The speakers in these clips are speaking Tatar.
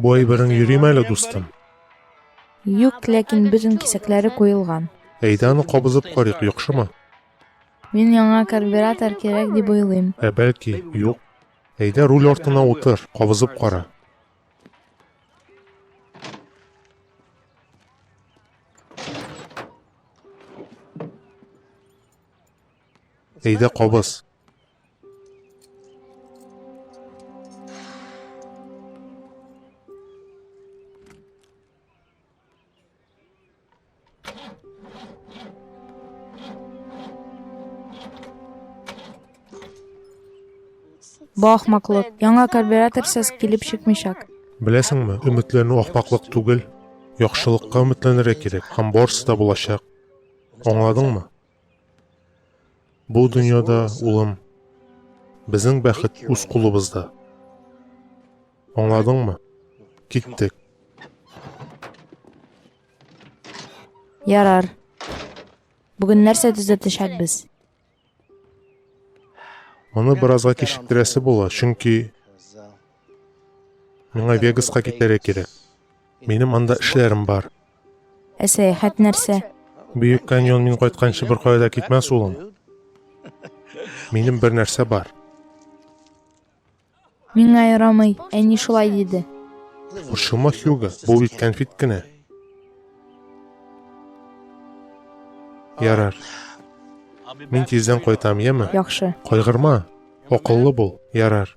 Бу әйберең йөрим әле, дустым. Юк, ләкин бөтен кисәкләре куелган. Әйдә аны кабызып карыйк, яхшымы? Мин яңа карбюратор кирәк дип уйлыйм. Ә бәлки, юк. Әйдә руль артына утыр, кабызып кара. Әйдә кабыз. Бу ахмаклык. Яңа карбюраторсыз килеп чыкмыйчак. Беләсеңме, өметләнү ахмаклык түгел. Яхшылыкка өметләнергә кирәк һәм барысы да булачак. Аңладыңмы? Бу дөньяда, улым, безнең бәхет үз кулыбызда. Аңладыңмы? Киттек. Ярар. Бүген нәрсә төзәтәчәкбез? Моны беразга кичектерәсе була, чөнки Миңа Вегаска китәргә кирәк. Минем анда эшләрем бар. Ә сәяхәт нәрсә? Бөек каньон мин кайтканчы бер кая да китмәс улым. Минем бер нәрсә бар. Миңа ярамый, әни шулай диде. Борчылма, Хьюго, бу бит кәнфит кенә. Ярар. Мин тиздән кайтам, яме? Яхшы. Кайгырма. Акыллы бул. Ярар.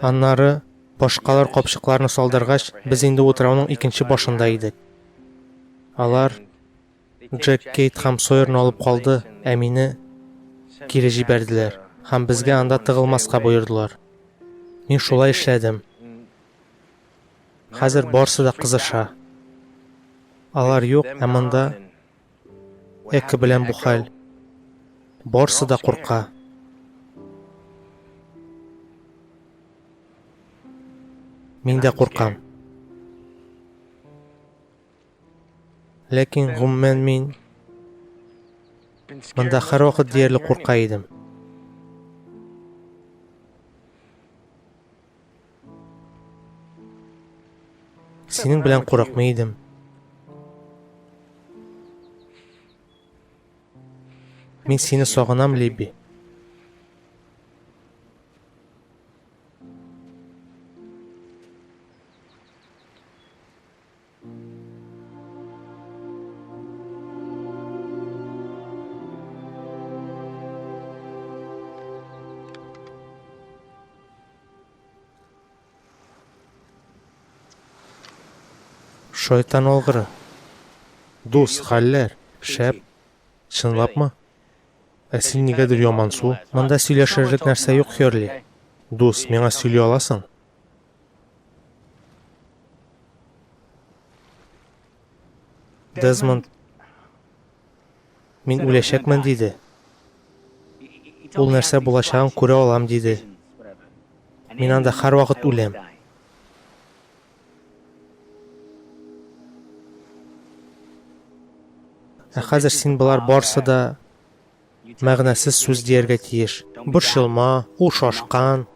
Аннары башкалар капчыкларны салдыргач, без инде утрауның икенче башында идек. Алар Джек, Кейт һәм Сойерны алып калды, ә мине кире җибәрделәр һәм безгә анда тыгылмаска боердылар. Мин шулай эшләдем. Хәзер барсы да кызыша. Алар юк, ә монда Эко белән бу хәл. Барсы да курка. Мин дә куркам. Ләкин, гомумән, мин монда һәрвакыт диярлек курка идем. Синең белән курыкмый идем. Мин сине сагынам, Либи. Шайтан алгыры. Дус, хәлләр, шәп. Чынлапмы? Ә син нигәдер ямансу? Монда сөйләшерлек нәрсә юк, Херли. Дус, миңа сөйли аласың? Дезмонд, мин үләчәкмен, диде. Ул нәрсә булачагын күрә алам, диде. Мин анда хар вакыт үләм. Ә хәзер син болар барсы да мәгънәсез сүз дияргә тиеш. Борчылма, ул шашкан,